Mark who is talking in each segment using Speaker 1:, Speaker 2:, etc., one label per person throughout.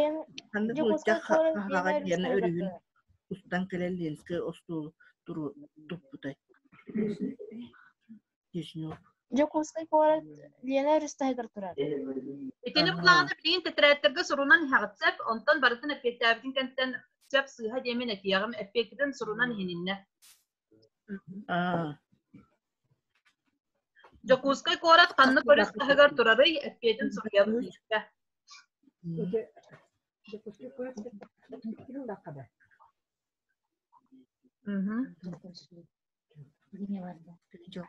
Speaker 1: Эн Дьокуускай куорат биэҥэр үстэлэҕэ устан кэлэн Ленскэй остуолу туру туппутай Дьокуускай куорат Лена Рустаһыгар турар. Итини планата билигин тетраэттерге сурунан иһэҕитсэк, онтон барытын эппиэттээбитин кэнтэн сөп сыыһа диэмин этиэҕим, эппиэттитин сурунан иһининнэ. Дьокуускай куорат ханна көрүс таһыгар турарый? Эппиэтин суруйан киирдэ. Дьокуускай куорат ким баққа да? Мм. Жоқ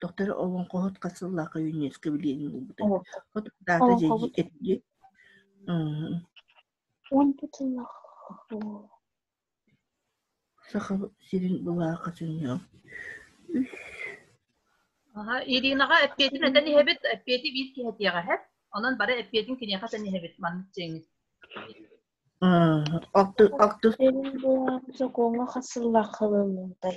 Speaker 1: Дохтор олоҥхоһут хас сыллаах юнеско билиэнин булбута. От даата дьэди этди. Онтут сыллаах. Сахал сирин былааха сынньаам. Үс. Аха, Иринаҕа эппиэтин этэн иһэбит, эппиэти биир киһэтиэҕэ эһэр. Онон бары эппиэтин киниэхэ этэн иһэбит, маннык дьиҥит. Алтыс. Сокуоҥа хас сыллаах халыллыытай.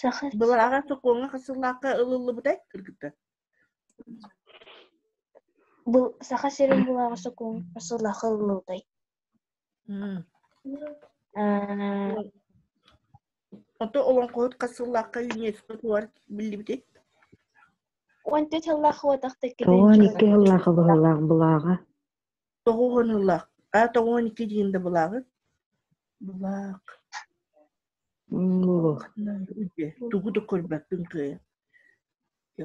Speaker 1: Саха Былыр аҕа сокуоҥҥа хасыллаакка ылыллыбытай кыргыттар? Бу Саха сирин булааҕы сокуон хасыллаакка ылыллыбытай? Ото олоҥхоһут хасыллаакка ЮНЕСКО туар биллибити? Уон төрт сыллаах уотахта Уон икки сыллаах абыһылаах былааҕа тоҕус уон ыллаах. А тоҕус уон икки диин да былааҕыт? Былаак. Тугу да көрбөппүн кыайа. Э,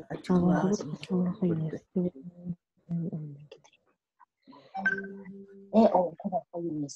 Speaker 1: ол куба қойыңыз.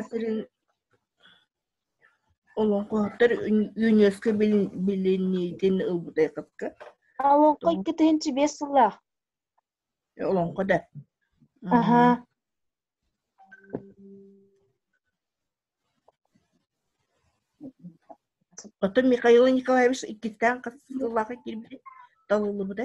Speaker 1: Атын олоҥхоһуттар үүнүөскэ билиниитин ылбыта Олоҥхо иккитинчи биэс сыллаах. Олоҥхо да. Аха. Оттон Михаил Николаевич иккистээн хас сыллаах киирбит талыллыбыта?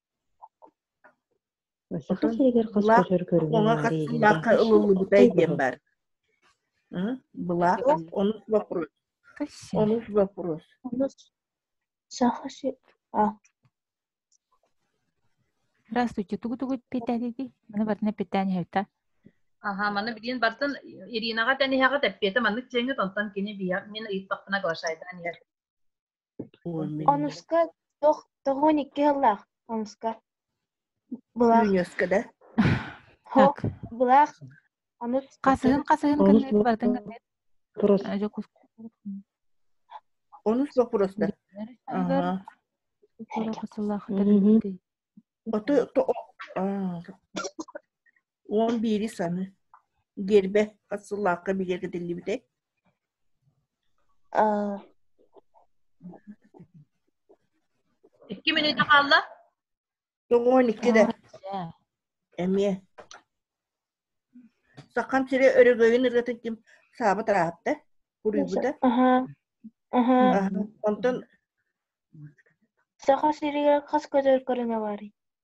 Speaker 1: Саха сиригэр хас көтөр көрүҥэ баар Былаакка ылыллыбытай диэн баар. Былаак онус вопрос. Онус вопрос. Онус Саха сир. Здравствуйте, тугу-тугу питаниди? Маны бартына питани хойта. Аха, маны билин бартын Иринаға тәнihаға тэппеті маннык чеңі тонтан кини бия. Мен ыйыттақпына глашайдан ер. Онуска туох тоҕуон икки сыллаах онуска былаах Үүнүөскэ да. Хоп былаах ону хасыһын хасыһын кынныыр батын кынныыр Турус. Онус бопурус да. Оты Уон биири саны биэрбэт сыллаахха билиэргэтиллибитэ. Икки мүнүүтэ хаалла? Тоҕуон икки да. Эмиэ. Сахам сирэ өрөгөйүн ыргатын ким саабы тараатта, куруйбута. Онтон Саха сиригэр хас көтөр көрүҥэ барый?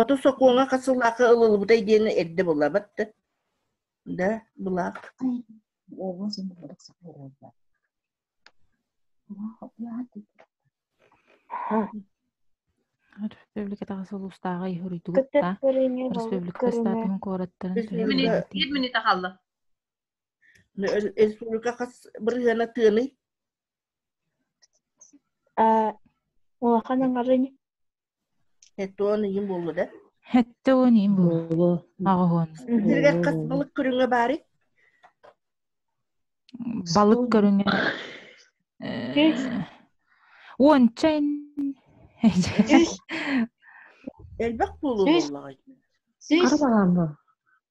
Speaker 1: Оту сокуоҥҥа хас сыллаахха ылыллыбытай диэн эрдэ булабыт да, да былаах. Өрөспүүбүлүкэтээҕи сыл устааҕы иһи уруйдубуттаа. Өрөспүүбүлүкэ статуһун куораттарын Республика хас бырыһыана тыаный? Э, улахан аҥарын Эттэ уон ыйын буолла да? Хэтте он ин буолу аҕыһын. Диргер хас балык көрүҥэ баары? Балык көрүҥэ онча ин элбэх буолу буоллаҕай. Хара балаан ба.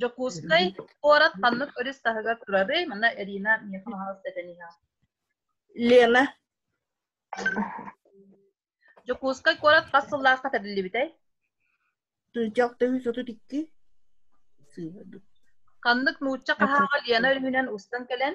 Speaker 1: Дьокуускай куорат ханнык өрүс таһыгар турарый? Манна Ирина миэхэ хаһаас этэн иһэ. Лена. Дьокуускай куорат хас сыллаахха тэриллибитэй? Дьах төрүс отут икки. Ханнык нуучча хаһааҕа Лена өрүһүнэн устан кэлэн,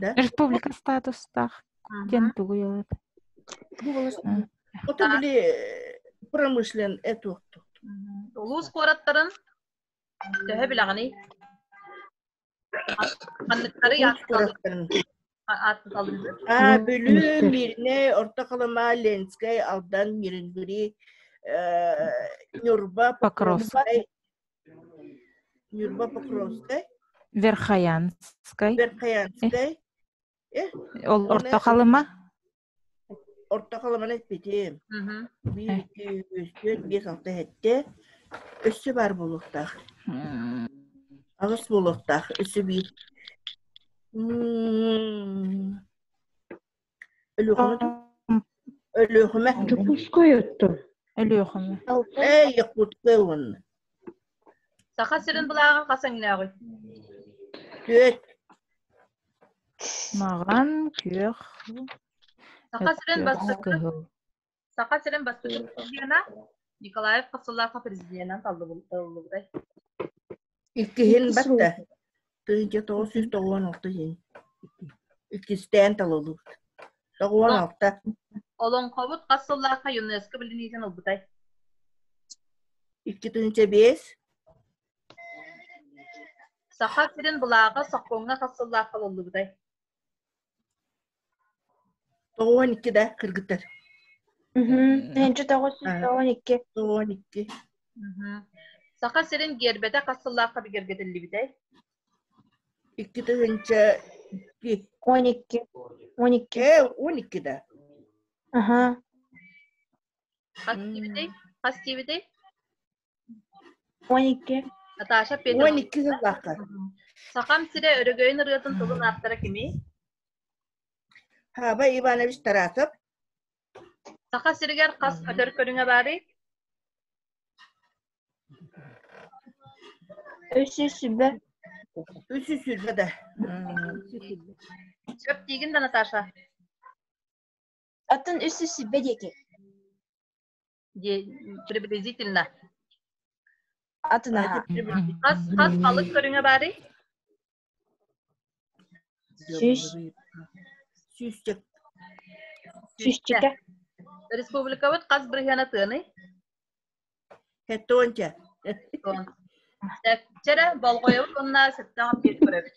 Speaker 1: Да? Республика статустаах диэн Ага. тугуй ылат? Бу волостной. Ото Да. били э, промышлен эту оттут. Улуус куораттарын төһө билэҕиний? Ханныктары аатталлар? аатталлар? А Бүлүү, Мирнэй, Орто Халыма, Ленскэй, Алдан, Миринбури, э, Ньурба, Покровскай, Нюрба Покровскай. Верхоянскай. Верхоянскай. Э, Ол Орто Халыма. Орто Халыманы эппитим. Биир, iki, үс, төрт, бес, алты, жетте. Өссө бар болуқтақ. Ағыс болуқтақ. Өссө биир. Өлүөхүмэ Өлүөхүмэ. Дьокуускай оттон. Өлүөхүмэ. Эй, Якутская уонна. Саха сирин былааҕа хас эҥнээҕий? Түөрт. Маҕан, күөх. Саха сирин бастакы. Саха сирин бастакы президенэ Николаев хасыллаахха президенэн талыллыбытай? Иккиһин баттэ. Тыынча тоҕус сүүс тоҕуон алта иһин. Иккистээн талыллыбыт. Тоҕуон алта. Олоҥхобут хас сыллаахха ЮНЕСКО билиниитин ылбытай? Икки тыынча биэс. Саха сирин былааҕа сокуоҥҥа хас сыллаахха ылыллыбытай? Тоҕуон икки да кыргыттар. Мһүнчү тоҕус сүүс тоҕуон икки. Тоҕуон икки. Саха сирин гиэрбэтэ хас сыллаахха бигэргэтиллибитэй? Икки тыһыынча икки. Он икки. Он икки. Э, он икки да. Аха. Хас диэбитэй? Хас диэбитэй? Он икки. Наташа Петрова. Он икки сыллаахтар. Сахам сирэ өрөгөйүн ырыатын тылын ааптара кимий? Хаба Иванович Тарасов. Саха сиригэр хас өтөр көрүҥэ баарый? Үс жүз сүбэ. Үс жүз сүлбэ да. Сөп диигин да, Наташа? Атын үс жүз сүбэ диэки. приблизительно атына хас хас балык көрүҥэ баарый сүүс сүүсчэк сүүсчэкэ республикабыт хас бырыһыана тыаный кэттонча так вчера болғойобут уонна сытта көрөбүт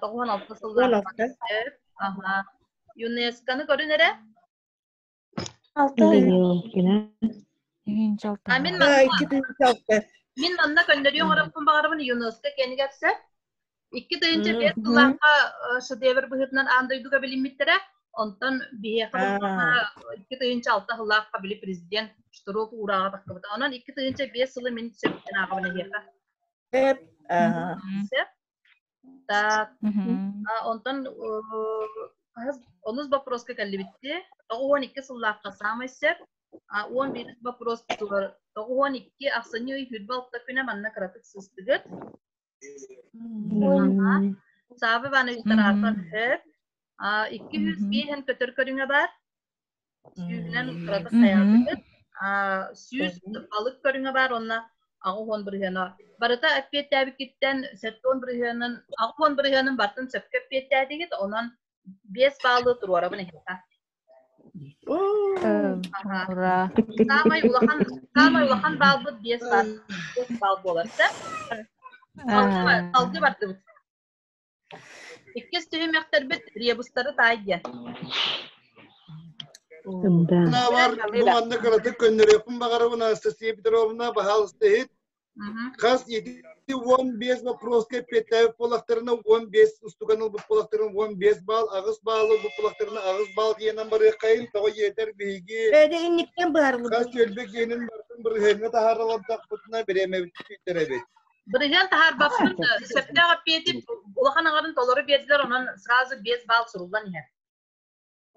Speaker 1: тоҕуһун алта сыллаах аха юнесконы көрүн эрэ мин манна көннөрүү оҥоробун баҕарабын юнеско кэнигэр сэ икки тыйынча биэс сыллаахха шедевр быһыытынан аан дойдуга билиммиттэрэ онтон биһиэхэ икки тыйынча алта сыллаахха били президент штурок уурааҕа тахкыбыта онон икки тыйынча биэс сылы мин сөптөн ааҕабын эһиэхэ Так, онтон хаһыс онус боппуруоска кэллибитти тоҕуһуон икки сыллаахха саамай сөп уон биирис боппуруоспутугар тоҕуһуон икки ахсынньы ый хүрбалта күнэ манна кыратык сыстыгыт уонна Саава Иванович Тарарпан хөп икки үс биэһэн көтөр көрүҥэ бар сүүрүнэн кырата сайааппыт сүүс балык көрүҥэ баар уонна аҕыс уон бырыһыана барыта эппиэттээбиккиттэн сэттэ уон бырыһыанын аҕыс уон бырыһыанын бартын сөпкө эппиэттээтигит онон биэс баалы туруорабын иһиттэ саамай улахан саамай улахан баалбыт биэс баал биэс баал буолар салгы бардыбыт Иккис түһүмэхтэрбит ребустары таайдыа. Наабар бу манна кыратык көннөрүөхпүн баҕарабын Анастасия Петровна, пожалуйста, иһит. Хас ети уон бес вопроска эппиэттээбит буолахтарына, уон бес устукан ылбыт буолахтарына, уон бес баал, аҕыс баал ылбыт буолахтарына, аҕыс баал киэнэн барыаххайын, тоҕо иэтэр биһиги хас түөлбэ киэнин бартын бырыһыаҥҥа таһааралардахпытына, бириэмэбит сүйтэр эбит. Бырыһыан таһаарбаппын, сөптөөх эппиэти улахан аҥарын толору биэрдилэр, онон сразу без балл суруллан иһэр.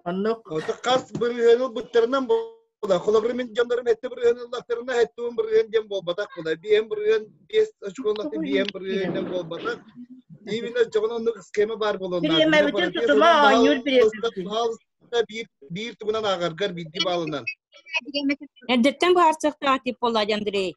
Speaker 1: Аннык. Хас бырыһыан ылбыттарынан була, холобрым дьоннорум этте бырыһыан ыллаттарына, эттуун бырыһыан диэн буолбатах була. Биэм бырыһыан, биэс очконлатын биэм бырыһыанынан буолбатах. Именно дьоҕун оннук схема баар болонна. Бириэмэбитин тутума оонньуур бириэмэ. Биир биир тугунан аагаргар биирдии баалынан. Эрдэттэн бу харсыахтаах тип боллади Андрей.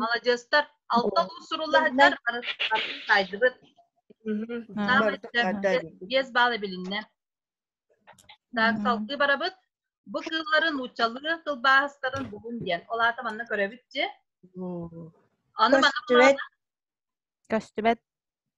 Speaker 1: Маладьыастар, алта уу суруллаһытар сайтыбыт. Биэс баал эбилиннэ. Так, салгыы барабыт. Бу кыылларын нууччалыы тылбаастарын булун диэн. Ол аата манна көрөбүт же. Аны көстүбэт. Көстүбэт.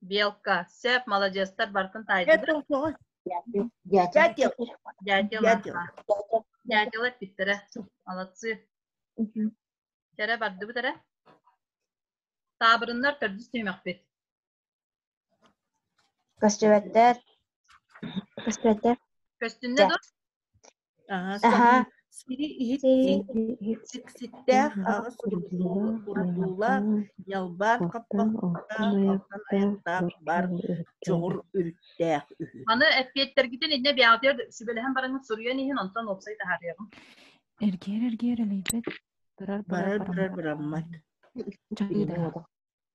Speaker 1: Белка, сеп, молодецтар барытын таайдылар. Дятел. Дятел Дятел эппиттэрэ. Молодцы. Кэрэ барды бүтэрэ. Таабырыннар төрдүс түймэкпит. Көстүбэттэр. Көстүбэттэр. Көстүннэ дур. Аһаҕас сири иһиттиҥ сикситтээх аҕыс урутуулла ньалбаан хаппахта алтан аяктаах бар чоҕур үрүттээх үһү. Маны эппиэттэргитин иннэ бэҕэтэр сүбэлэһэн бараҥҥыт суруйан иһин онтон уопсай таһаарыаҕым. Эргиэр эргиэр элэйбэт барар барар бараммат. Дьайда.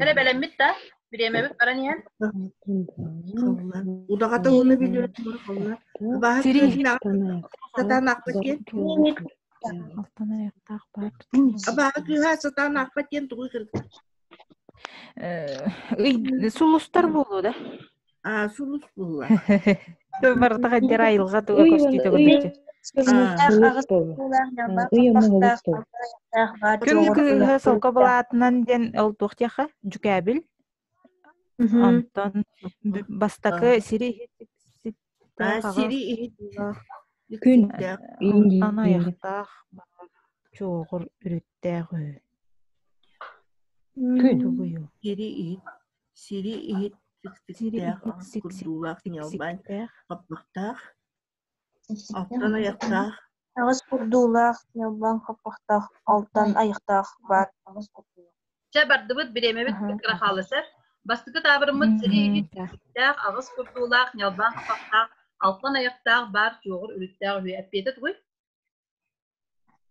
Speaker 1: Эрэ бэлэммит да, бириэмэбит баран иһэн. Удаҕата ууну билиэм холла. Абааһы сирин сатаан аахпат диэн. Алтан айахтаах баар. Абааһы кыыһа сатаан аахпат диэн тугу кырдык. Ый сулустар буолуо да? Аа, сулус булла. Барыта хаддер айылга туга көстүү төгүлүчү. Күнгі кыыһы солко былаатынан диэн ол туох диэха жүкәбил. Антон бастакы сири сири күн антон аяқтаах чоҕур үрүттээх үһү. Күн. Сири иһит. сири иһит сиксиктээх курдуулаах ньалбаан хаппахтаах алтан айахтаах аҕыс курдуулаах ньалбаан хаппахтаах алтан айахтаах баар чэ бардыбыт бириэмэбит кыра хаалысар бастакы таабырыммыт сири иһит аҕыс курдуулаах ньалбаан хаппахтаах алтан айахтаах баар чуоҕур үрүттээх үһү эппиэтэ тугуй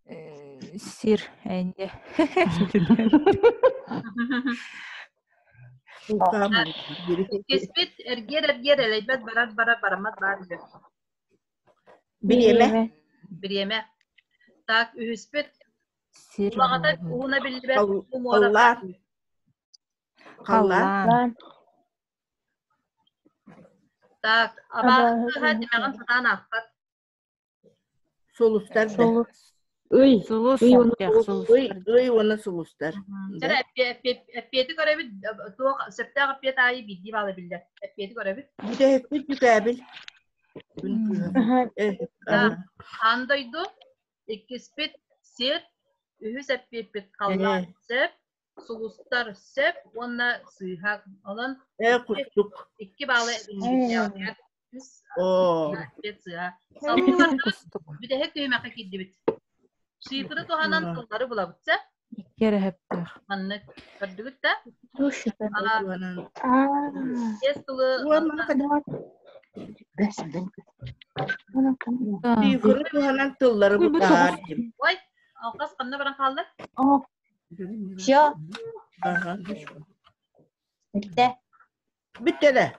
Speaker 1: Э, сир энье Кэспит эргиэр эргиэр элэйбэт барар барар барамат баар үһү. Бириэмэ. Бириэмэ. Так үһүспүт. Сир. Улаҕатар уһуна биллибэт умуоралар. Халлаан. Так, аба кыһа димэҕин сатаан аахпат. Сулустар да. Сулус. Ый. Сулус. Ый уонна сулус. Ый, ый уонна сулустар. Чара эппиэти көрөбүт, туох сөптөөх эппиэт аайы биирдии баала биллэр. Эппиэти көрөбүт. Бүтэһикпит бүкээбил. Ан дойду, иккиспит сир, үһүс эппиэппит халлаан сөп, сулустар сөп уонна сыыһа. Онон э курдук икки баалы эбиллибиттэр. Оо. Салгылар бүтэһик күймэхэ кирдибит. Шифры туһанан тыллары булабыт сэ. Икки эрэһэптээх. Маннык көрдүгүт да? Бес тылы Шифры туһанан тыллары бутаар. Ой, алқас қанна баран қалды? Все. Ага. Bitti. Bittele.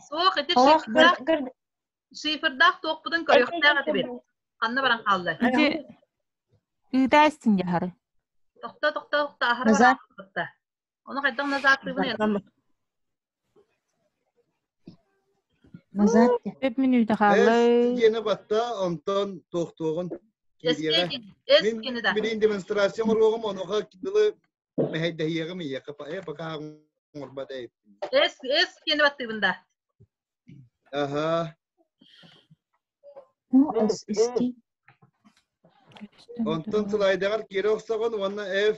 Speaker 1: Суох, ити Ох, шифрдаах шифрдаах туохпутун көрүөхтээх этибит. Ханна баран хаалла? Ити ыыта истин яхары. Тохто тохто тохто ахара баран хаалта. Оны хайдах назаатыыбын Назад. Үп мүнүүтэ хааллай. Эс киэне батта, онтон тохтоҕун. Кириэҕэ. Мин билин демонстрация оҥоруоҕум, онуха дылы мэһэйдэһиэҕим ийэхэ пока оҥорбот эйт. Эс, эс киэне баттыыбын да. Аха. Онтон сылайдаҕар киирэ охсоҕун уонна F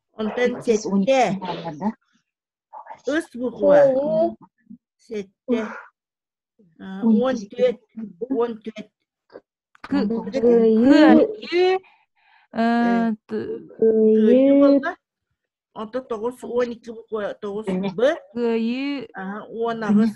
Speaker 1: Онтон сэттэ. Ыс буква. Сэттэ. Он төрт. Он төрт. Онтон тоғыз он екі буква тоғыз б. Кыйы. Он аҕыс.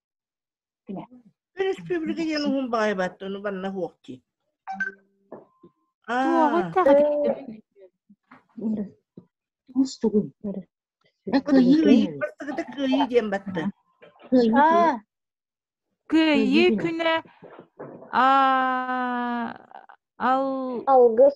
Speaker 1: Республика диэн уһун баайбатты, ону банна хуокти. Туоҕу Мустугун. Кыйыы диэн батты. Кыйыы күнэ ал алгыс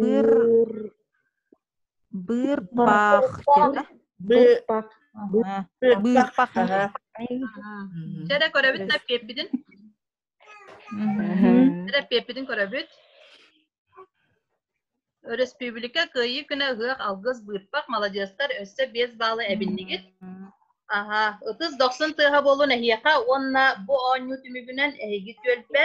Speaker 1: быыр быырпахчыта быырпах дьэ көрөбүт эппиэппитин эппиэппитин көрөбүт өрөспүүбүлүкэ кыайыы күнэ ыһыах алгыс быырпах маладьыастар өссө биэс балла эбиннигит аха ытыс дохсун тыаха буолун эһиэхэ уонна бу оонньуу түмүгүнэн эһиги түөлбэ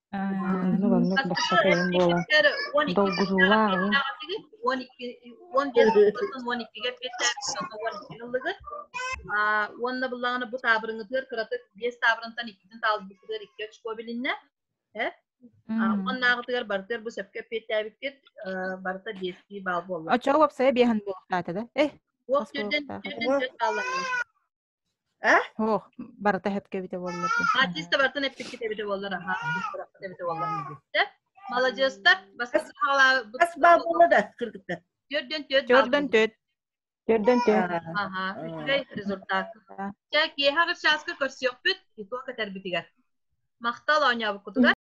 Speaker 1: Оннук-оннук бастакы ойун буолан долгутуулаах ыйын уон икки уон биэс уон иккигэ биэс таабырыҥҥа уон икки ыллыгыт уонна буллаҕына бу таабырыҥытыгар кыратык биэс таабырынтан иккитин таалбыкытыгар икки очко билиннэ уоннааҕытыгар барытыгар бу сөпкө эппиэттээбиккит барыта биэстии баал буолла оччо уопсайа биэһэн буолуохтаата да эй уох түрдэн түрдэн сөп бааллар Э? Ох, барыта эһэтке эбитэ буоллар дии. Артиста барытын эппиккит эбитэ буоллар, аха, барыта эбитэ буоллар. Маладьыастар, бастакы саҕалаабыт. Бас баабылла да кырдыктар. Төрдөн төрт. Төрдөн төрт. Төрдөн төрт. Аха, үчүгэй результат. Чэ, киэһэ чааска көрсүөхпүт, иту кэтербитигэр. Махтал оонньообуккутугар.